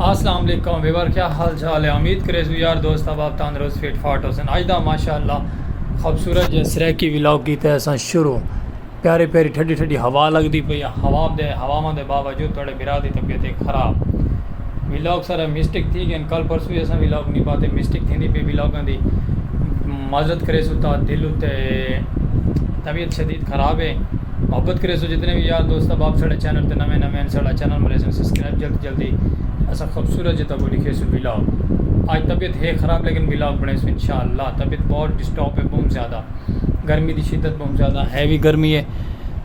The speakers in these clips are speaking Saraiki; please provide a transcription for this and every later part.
السلام علیکم ویور کیا حال چال ہے امید کرے سو یار دوست اب آپ تندرست فٹ فاٹ ہو سن آج دا ماشاء اللہ خوبصورت جی سریکی ولاگ کی تحسن شروع پیارے پیاری ٹھڈی ٹھڈی ہوا لگ دی پہ یا ہوا دے ہوا دے باوجود توڑے بھرا دی طبیعت ہے خراب۔ ولاگ سارا مسٹیک تھی گئن کل پرسوں وی اساں ولاگ نی پاتے مسٹیک تھیندی پئی ولاگاں دی معذرت کریسوں تا دل اتے طبیعت شدید خراب ہے محبت کریسوں جتنے وی یار دوست احباب ساڈے چینل تے نویں نویں ساڈا چینل مریسوں سبسکرائب جلدی جلدی اساں خوبصورت جے تکو لکھیسوں ولاگ آج طبیعت ہے خراب لیکن ولاگ بنیسوں انشاءاللہ طبیعت بہت ڈسٹرب ہے بہت زیادہ گرمی دی شدت بہت زیادہ ہیوی گرمی ہے۔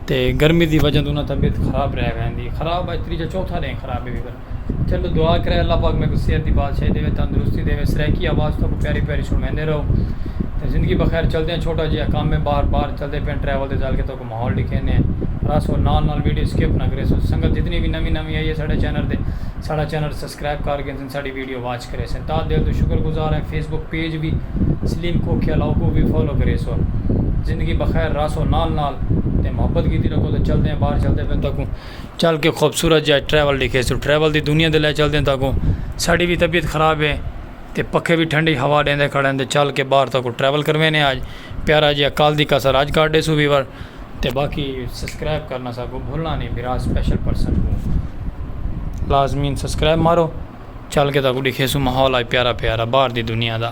تے گرمی دی وجہ توں انہاں دی طبیعت خراب رہ ویندی خراب اج تریجھا چوتھا ݙینھ خراب ہے چلو دعا کرے اللہ پاک میکوں صحت دی بادشاہی دے تندرستی دے سرائیکی آواز توں پیاری پیاری سنویندے رہو تے زندگی بخیر چلدے ہیں چھوٹا جیا کم ہے بار بار چلدے پئے ہیں ٹریول دے جال کے تو کو ماحول ݙیکھیندے ہیں راس ہو نال نال ویڈیو سکپ نہ کریسو سنگت جتنی وی نوی نوی آئی ہے ساڈے چینل تے ساڈا چینل سبسکرائب کر گھن ساڈی ویڈیو واچ کریسن تاں دل توں شکر گزار ہیں فیس بک پیج وی سلیم کھوکھیا لاؤ کوں وی فالو کریسو زندگی بخیر رہسو نال نال تے محبت کیتی رکھو تے چلدے ہیں باہر چلدے پئن تاکوں چل کے خوبصورت جا ٹریول ڈیکھیسوں ٹریول دی دنیا دے لے چلدے ہیں تاکوں ساڈی وی طبیعت خراب ہے تے پکھے وی ٹھنڈی ہوا ڈیندے کھڑے ہیں تے چل کے باہر تاکوں ٹریول کروینے آج پیارا جیا کل دی کسر آج کاٹ ڈیسوں ویور تے باقی سبسکرائب کرنا ساکوں بھلنا نی میرا سپیشل پرسن کوں لازمین سبسکرائب مارو چل کے تاکوں ڈکھے سوں ماحول آج پیارا پیارا باہر دی دنیا دا۔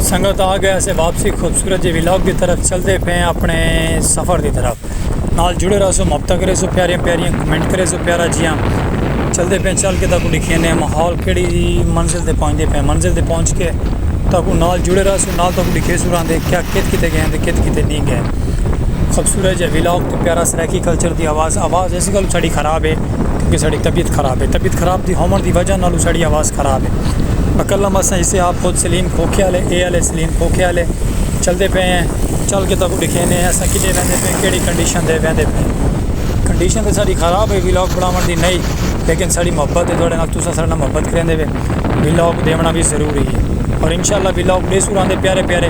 سنگت آ گیا سے واپسی خوبصورت جی ولاگ دی طرف چلتے پے ہیں اپنے سفر دی طرف نال جڑے رہا سو مبتا کرے سو پیاریاں پیاریاں کمنٹ کرے سو پیارا جیاں چلتے پے چل کے تاکو لکھے نے ماحول کیڑی منزل دے پہنچتے پے منزل دے پہنچ کے تاکو نال جڑے رہا سو نال تاکو لکھے سو رہا دے کیا کت کتے گئے ہیں دے کت کتے نہیں گئے خوبصورت جا ولاگ تے پیارا سرائیکی کلچر دی آواز آواز ایسی گل ساڑی خراب ہے کیونکہ ساڑی طبیعت خراب ہے طبیعت خراب دی ہومن دی وجہ نالو ساڑی آواز خراب ہے بکلا مسئلہ اسے آپ خود سلیم کھوکھے آلے اے آلے سلیم کھوکھے آلے چل دے پے ہیں چل کے تاکو دکھے نے ہیں ساکے دے ویندے پے ہیں کیڑی کنڈیشن دے ویندے پے ہیں کنڈیشن دے ساڑی خراب ہے ولاگ بناوان دی نئی لیکن ساڑی محبت دے دوڑے نال توسہ ساڑنا محبت کریں دے وے ولاگ دے ونا بھی ضروری ہے اور انشاءاللہ ولاگ دے سوران دے پیارے پیارے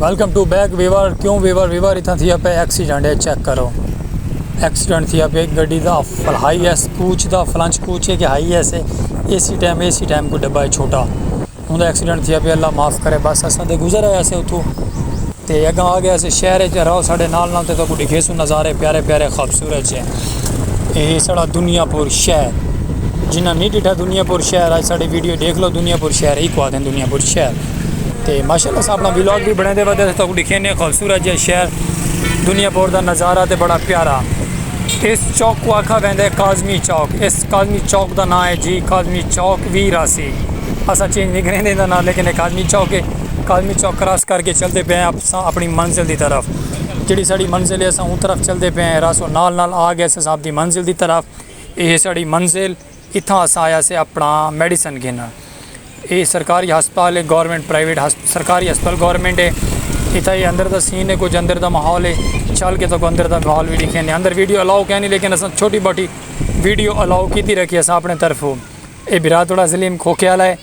ویلکم ٹو بیک ویور کیوں ویور ویور اتنا تھیا پہ ایکسیڈنٹ ہے چیک کرو ایکسیڈنٹ تھیا پہ گڈی the high S coach the فلنچ coach ہے کہ ہائی ایس ہے A C time A C time کو ڈبا ہے چھوٹا ہوں ایکسیڈنٹ تھیا پہ اللہ معاف کرے بس اساں دے گزر آیا سے اتھو تے اگاں آ گیاں سے شہر اچ رہو ساڈے نال نال تے تہاکوں ڈکھیسوں نظارے پیارے پیارے خوبصورت جے اے ہے ساڈا دنیا پور شہر جنہاں نہیں ڈٹھا دنیا پور شہر اج ساڈی ویڈیو ڈیکھ لو دنیا پور شہر ایکو آدھے دنیا پور شہر تے ماشاءاللہ اساں اپنا ولاگ بھی بنیندے ودے تے تہاکوں ڈکھینے خوبصورت جے شہر دنیا پور دا نظارہ تے بڑا پیارا اس چوک کو آکھا ویندے کاظمی چوک اس کاظمی چوک دا ناں ہے جی کاظمی چوک وی راسی اساں چینج نہیں کریندے دا ناں لیکن اے کاظمی چوک ہے۔ کالمی چوک کراس کر کے چلتے پئے ہیں اساں اپنی منزل دی طرف جیڑی ساڑی منزل ہے اساں اوں طرف چلتے پئے ہیں راسوں نال نال آ گئے اساں اپنی منزل دی طرف یہ ساڑی منزل اتھاں اساں آیا سے اپنا میڈیسن گھنن یہ سرکاری ہسپتال ہے گورنمنٹ پرائیویٹ سرکاری ہسپتال گورنمنٹ ہے اتھا یہ اندر دا سین ہے کچھ اندر دا ماحول ہے چل کے تو اندر دا ماحول بھی دکھے نہیں اندر ویڈیو الاؤ کہنی لیکن اساں چھوٹی باٹی ویڈیو الاؤ کیتی رکھی اساں اپنے طرف ہوں یہ براتوڑا ضلع کھوکے والا ہے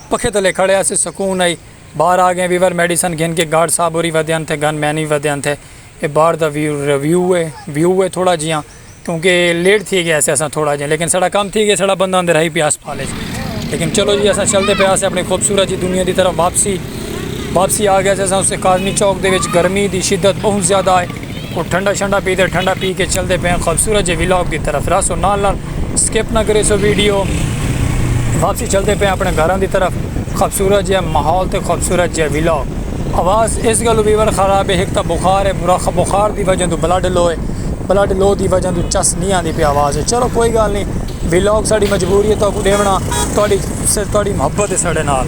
پکھے تلے کھڑے آسے سکون ہئی۔ باہر آگئے ویور میڈیسن گھن کے گارڈ صاحب ہوری ودھیان تھے گن مین وی ودھیان تھے۔ اے باہر دا ویو ہے ویو ہے تھوڑا جیاں کیونکہ لیٹ تھی گیا اسے اساں تھوڑا جیاں لیکن ساڑا کام تھی گیا ساڑا بندہ اندر ہائی پیا ہسپتال اچ لیکن چلو جی اساں چلتے پے آسے اپنی خوبصورت جی دنیا دی طرف واپسی واپسی آگئے اسے اساں اس کاظمی چوک دے وچ گرمی دی شدت بہت زیادہ ہے۔ او ٹھنڈا شنڈا پیدے ٹھنڈا پی کے چلدے پئے آں خوبصورت جے ولاگ دی طرف رہسو نال نال سکپ نہ کریسو ویڈیو واپسی چلدے پئے آں اپنے گھراں دی طرف خوبصورت جیہا ماحول تے خوبصورت جیہا ولاگ آواز اس گلوں ویور خراب ہے ہک تاں بخار ہے بخار دی وجہ توں بلڈ لو ہے بلڈ لو دی وجہ توں چس نی آندی پئی آواز اچ چلو کوئی گالھ نی ولاگ ساڈی مجبوری ہے تہاکوں ڈیونڑاں تہاڈی تہاڈی محبت ہے ساڈے نال۔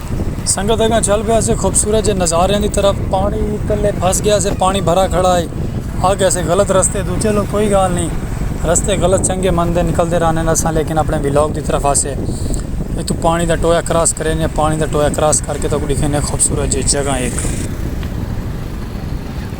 سنگت اگاں چل پیا سے خوبصورت جے نظاریاں دی طرف پانی تلے پھس گیا سے پانی بھرا کھڑا ہے اگ ایسے غلط رستے دو چلو کوئی گال نہیں رستے غلط چنگے مندے نکلتے رہنے نہ سا لیکن اپنے ویلاگ دی طرف آسے اتو پانی دا ٹویا کراس کرے نے پانی دا ٹویا کراس کر کے تو ڈیکھے نے خوبصورت جے جگہ ایک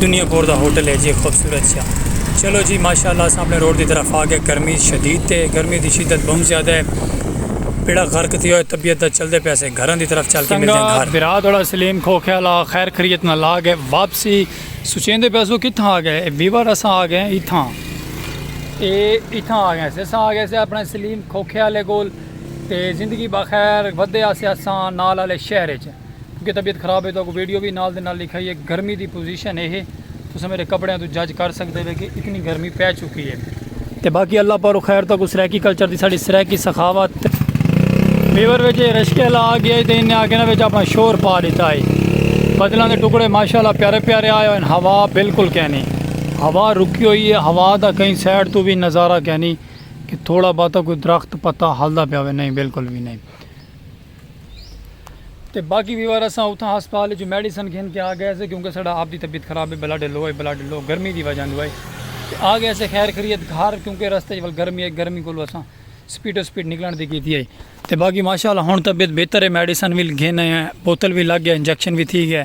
دنیا پور دا ہوٹل ہے جی خوبصورت سیا چلو جی ماشاءاللہ اساں اپنے روڈ دی طرف آ گئے گرمی شدید تے گرمی دی شدت بہت زیادہ ہے بیڑا غرق تھی ہوئے طبیعت دا چلدے پیا سے گھراں دی طرف چل کے ملدے ہیں گھر برا دوڑا سلیم کھوکھے والا خیر خریت نال آ گئے واپسی سوچیں دے پیا سو کتھاں آ گئے ویور اساں آ گئے اتھاں اے اتھاں آ گئے سے اساں آ گئے سے اپنے سلیم کھوکھے والے کول تے زندگی بخیر ودے آسے اساں نال والے شہر وچ کیونکہ طبیعت خراب ہے تو اگوں ویڈیو بھی نال دے نال لکھائی ہے گرمی دی پوزیشن ہے تساں میرے کپڑیاں تو جج کر سکدے ہو کہ اتنی گرمی پے چکی ہے تے باقی اللہ پارو خیر تک سرائیکی کلچر دی ساڑی سرائیکی سخاوت بیور وچ رشکے اللہ آ گیا ہے تے انہیں آگے نہ وچ اپنا شور پا دیتا ہے بدلاں دے ٹکڑے ماشاءاللہ پیارے پیارے آئے ہوئے ہوا بالکل کہنی ہوا رکی ہوئی ہے ہوا دا کہیں سائڈ تو بھی نظارہ کہنی کہ تھوڑا باتا کوئی درخت پتا ہلدا پیا ہوئے نہیں بالکل بھی نہیں تے باقی وی وار اساں اتھاں ہسپتال اچوں میڈیسن گھن کے آ گئے سے کیونکہ ساڈا آپ دی طبیعت خراب ہے بلڈ لو ہے بلڈ لو گرمی دی وجہ دوئے تے آ گئے سے خیر خریت گھر کیونکہ رستے ول گرمی ہے گرمی کولو اساں سپیڈ و سپیڈ نکلن دی کیتی ہے تے باقی ماشاءاللہ ہن طبیعت بہتر ہے میڈیسن وی گھن آئے ہیں بوتل وی لگ گئے انجیکشن وی تھی گئے۔